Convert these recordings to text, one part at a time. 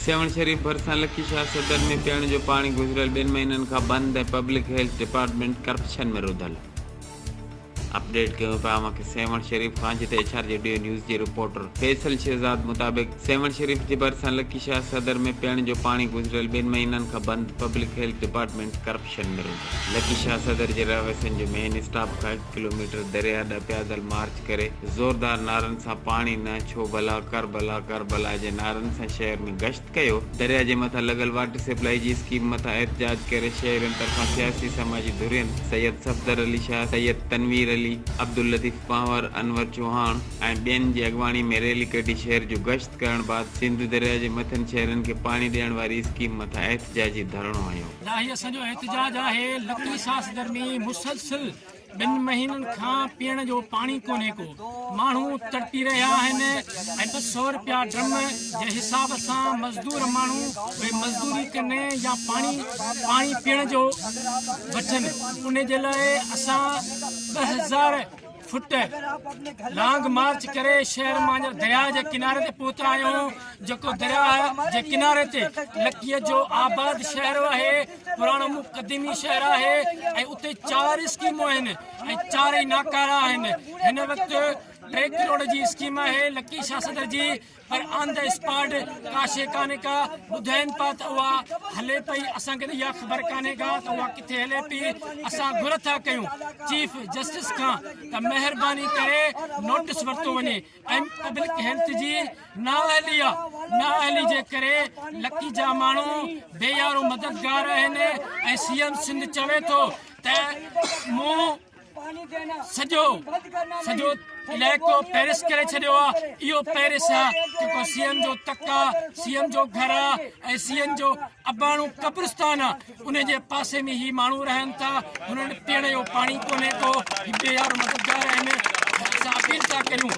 سيوهڻ شريف ڀرسان لڪي شاهه صدر ۾ پيئڻ جو پاڻي گذريل ٻن مهينن کان بند ۽ پبلڪ هيلٿ ڊپارٽمينٽ ڪرپشن ۾ رڌل اپ ڊيٽ ڪيون پيا اوهان کي سيوهڻ شريف کان جتي ايڇ آر جي ڊيو نيوز جي رپورٽر فيصل شهزاد مطابق سيوهڻ شريف جي ڀرسان لڪي شاهه صدر ۾ پيئڻ جو پاڻي گذريل ٻن مهينن کان بند پبلڪ هيلٿ ڊپارٽمينٽ ڪرپشن ۾ رڌل لڪي شاهه صدر جي رهواسين جو مين اسٽاف کان هڪ ڪلو ميٽر درياء ڏانهن پيادل مارچ ڪري زوردار نعرن سان پاڻي نه ڇو ڀلا ڪربلا ڪربلا جي نعرن سان شهر ۾ گشت ڪيو، درياء جي مٿان لڳل واٽر سپلائي جي اسڪيم مٿان احتجاج ڪري شهرين طرفان سياسي سماجي ڌرين سيد صفدر علي شاهه، سيد تنوير علي، عبداللطيف پنهور، انور چوهاڻ ۽ ٻين جي اڳواڻي ۾ ريلي ڪڍي شهر جو گشت ڪرڻ بعد سنڌو درياء جي مٿين شهرين کي پاڻي ڏيڻ واري اسڪيم مٿان احتجاجي ڌرڻو هنيو. ڏاهي اسان جو احتجاج آهي، لڪي ساس گرمي مسلسل. ٻن مهينن کان پيئڻ جو پاڻي ڪونهي ڪو، ماڻهو تڙپي رهيا آهن ۽ ٻه سؤ رپيا ڊرم جي حساب سان مزدور ماڻهو اهي مزدوري ڪن يا پاڻي پاڻي پيئڻ جو وٺن ان جي لاء اسان ٻه هزار فٽ لانگ مارچ ڪري شهر مان درياء جي ڪناري تي پهتا آهيون جيڪو درياء جي ڪناري تي لڪيء جو آباد شهر آهي پراڻو مون قديمي شهر آهي ۽ اتي چار اسڪيمون آهن ۽ چارئي ناڪارا آهن هن وقت ٽي ڪروڙ جي اسڪيم آهي لڪي شاهه صدر جي پر آن دا اسپاٽ ڪا شي ڪانه ڪا ٻڌائين پا ته اها هلي پئي اسان کي اها خبر ڪانه ڪا ته اها ڪٿي هلي پئي اسان گهر ٿا ڪيون چيف جسٽس کان ته مهرباني ڪري نوٽس ورتو وڃي ۽ پبلڪ هيلٿ جي نااهلي يا نااهلي جي ڪري لکين جا ماڻهو بي يارو مددگار آهن ۽ سي ايم سنڌ چوي ٿو ته مون سڄو سڄو علائقو پيرس ڪري ڇڏيو آهي اهو پيرس آهي جيڪو سي ايم جو تڪ آهي سي ايم جو گهر آهي ۽ سي ايم جو اباڻو قبرستان آهي ان جي پاسي ۾ هي ماڻهو رهن ٿا هنن پيئڻ جو پاڻي ڪونهي ڪو هي يار مددگار آهن اسان اپيل ٿا ڪريون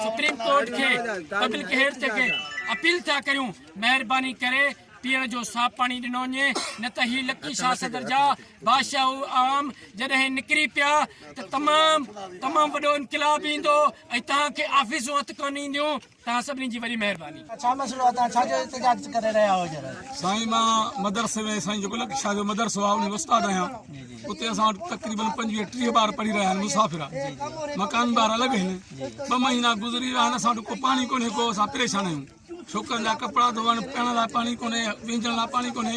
سپريم ڪورٽ کي پبلڪ هيلٿ کي اپيل ٿا ڪريون مهرباني ڪري پيئڻ جو صاف پاڻي ڏنو وڃي نه ته هي لڪي شاهه صدر جا بادشاهه عام جڏهن نڪري پيا ته تمام تمام وڏو انقلاب ايندو ۽ تهان کي آفيسون هٿ ڪون اينديون توهان سڀني جي وڏي مهرباني. ڇا مسئلو آ توهان ڇا جو احتجاج ڪري رهيا آهيو جرا. سائين مان مدرسي ۾ سائين جيڪو لڪ شاهه جو مدرسو آ انهي ۾ استاد آهيان اتي اسان وٽ تقريبن پنجويهه ٽيهه ٻار پڙهي رهيا آهن مسافر آ مڪان ٻار الڳ آهن ٻه مهينا گذري ويا آهن اسان وٽ ڪو پاڻي ڪونهي ڪو اسان پريشان آهيون ڇوڪرن جا ڪپڙا ڌوئڻ پيئڻ لاء پاڻي ڪونهي وينجڻ لاء پاڻي ڪونهي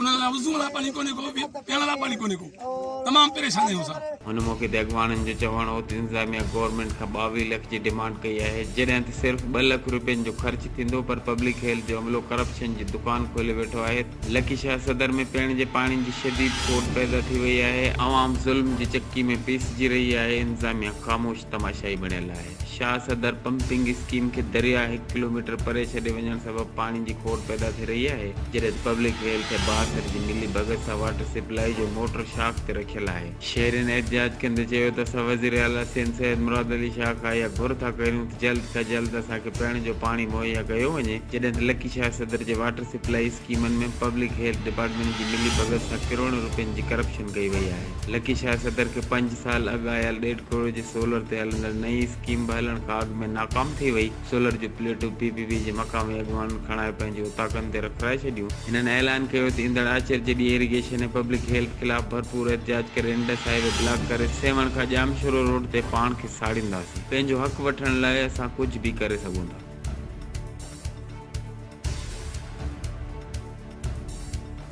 انهن لاء وضو لاء پاڻي ڪونهي ڪو به پيئڻ لاء پاڻي ڪونهي ڪو تمام پريشان آهيون اسان. هن موقعي تي اڳواڻن جو چوڻ هو ته انتظاميا گورنمينٽ کان ٻاويهه لک جي ڊيمانڊ ڪئي آهي جڏهن ته صرف ٻه لک روپين جو خرچ ٿيندو پر پبلڪ هيلٿ جو عملو ڪرپشن جي دڪان کولي ويٺو آهي لڪي شاهه صدر ۾ پيئڻ جي پاڻي جي شديد کوٽ پيدا ٿي وئي آهي عوام ظلم جي چڪي ۾ پيسجي رهي آهي انتظاميا خاموش تماشائي بڻيل آهي. شاهه صدر پمپنگ اسڪيم کي درياهه هڪ ڪلوميٽر پري ڇڏي وڃڻ سبب پاڻي جي کوڙ پيدا ٿي رهي آهي، جڏهن ته پبلڪ ويل کي بااثر جي ملي ڀڳت سان واٽر سپلائي جو موٽر شاخ تي رکيل آهي. شهرين احتجاج ڪندي چيو ته اسان وزير اعليٰ سيند سيد مراد علي شاهه کان اها گهر ٿا ڪريون ته جلد کان جلد اسان کي پيئڻ جو پاڻي مهيا ڪيو وڃي جڏهن ته لڪي شاهه صدر جي واٽر سپلائي اسڪيمن ۾ پبلڪ هيلٿ ڊپارٽمينٽ جي ملي ڀڳت سان ڪروڙين روپين جي ڪرپشن ڪئي وئي آهي. لڪي شاهه صدر کي پنج سال اڳ آيل ڏيڍ ڪروڙ جي سولر تي هلندڙ نئين اسڪيم به هلڻ کان اڳ ۾ ناڪام ٿي وئي، سولر جون پليٽون پي پي پي جي مقامي اڳواڻن کڻائي پنهنجي اوطاقن تي رکرائي ڇڏيون. هنن اعلان ڪيو ته ايندڙ آچر جي ڏينهن ايريگيشن ۽ پبلڪ هيلٿ خلاف ڀرپور احتجاج ڪري انڊس هاء وي بلاڪ ڪري سيوهڻ کان ڄامشورو روڊ تي پاڻ کي ساڙينداسين، پنهنجو حق وٺڻ لاء اسان ڪجهه به ڪري سگهون ٿا.